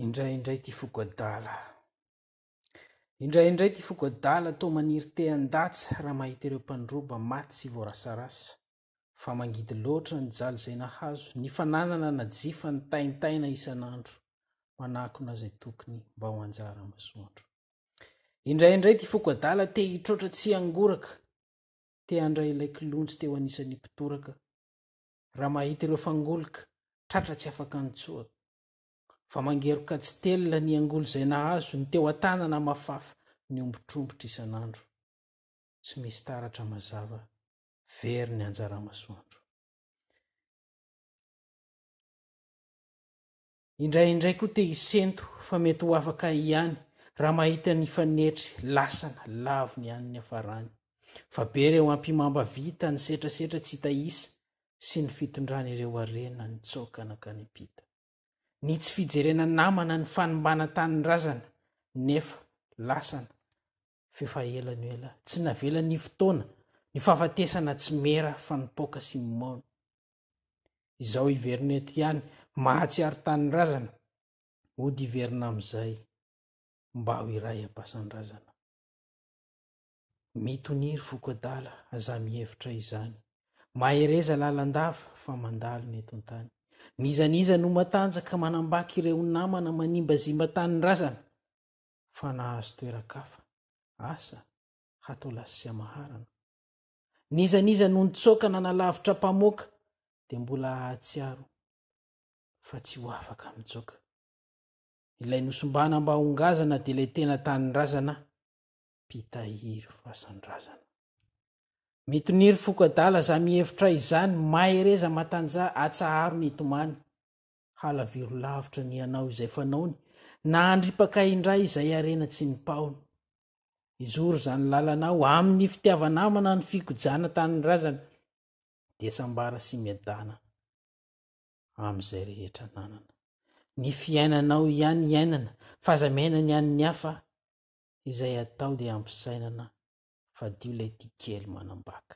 Indray indray ity foko adala. Indray indray ity foko adala toa maniry te handatsa raha mahita ireo mpandroba maty sy voarasarasa. Fa mangidy loatra ny jaly izay nahazo, ny fananana najifa ny taintaina isan'andro. Manakona izay tokony mba ho anjara masoandro. Indray indray ity foko adala te hitroatra tsy hangoraka, te handray ilay kilonjy teo anisan'ny mpitoraka. raha mahita ireo fangoloka tratra tsy afaka nitsoaka. Fa mangeroka tsy telina ny angoly izay nahazo ny teo an-tanana mafafa niombotrombotra isan'andro. Tsy misy taratra mazava, very ny anjara-masoandro. Indraindray koa te hisento fa mety ho afaka ihany raha mahita ny fanetry lasana lavo ny an'ny niafarany. Fa be ireo ampimamba vita ny setrasetra tsy hita isa sy ny fitondran'ireo harena nitsoaka nankany am-pita. Ny tsy fijerena namana ny fanimbana tanindrazana nefa lasana f'efa ela no ela tsy navelan'ny fotoana ny fahafatesana tsy mera fa nipoaka sy mimaona. Izao hiverina eto ihany, mahatsiaro tanindrazana, hody hiverina amin'izay, mba ho iray am-pasan-drazana. Mitonia ry foko adala, aza mihevitra izany. Mahereza lalandava, fa mandalo ny eto an-tany. N'iza n'iza no matanjaka manambaka ireo namana manimbazimba tanindrazana, fa nahazo toeran-kafa, asa, hatao lasy sy hamaharana. N'iza n'iza no nitsoaka nanalavitra mpamoaka dia mbola hahatsiaro fa tsy ho afaka mitsoaka. Ilay nosimbana mba ho ngazana dia ilay tena tanindrazana mpitahiry fasandrazana. Mitonia ry foko adala za mihevitra izany mahereza matanjaha atsaharo ny tomany Halaviro lavitra ny hanao izay fanaony, na handripaka indray izay harena tsy nipahony. Hizoro izany lalana aho amin'ny fitiava-namana ny fikojana tanindrazana, dia sambara sy miadana amin'izay rehetra nanana. Ny fiainanao ihany iainana, f'aza miaina ny an'ny hafa, izay atao dia ampisainana, fadio ilay tia kely manambaka.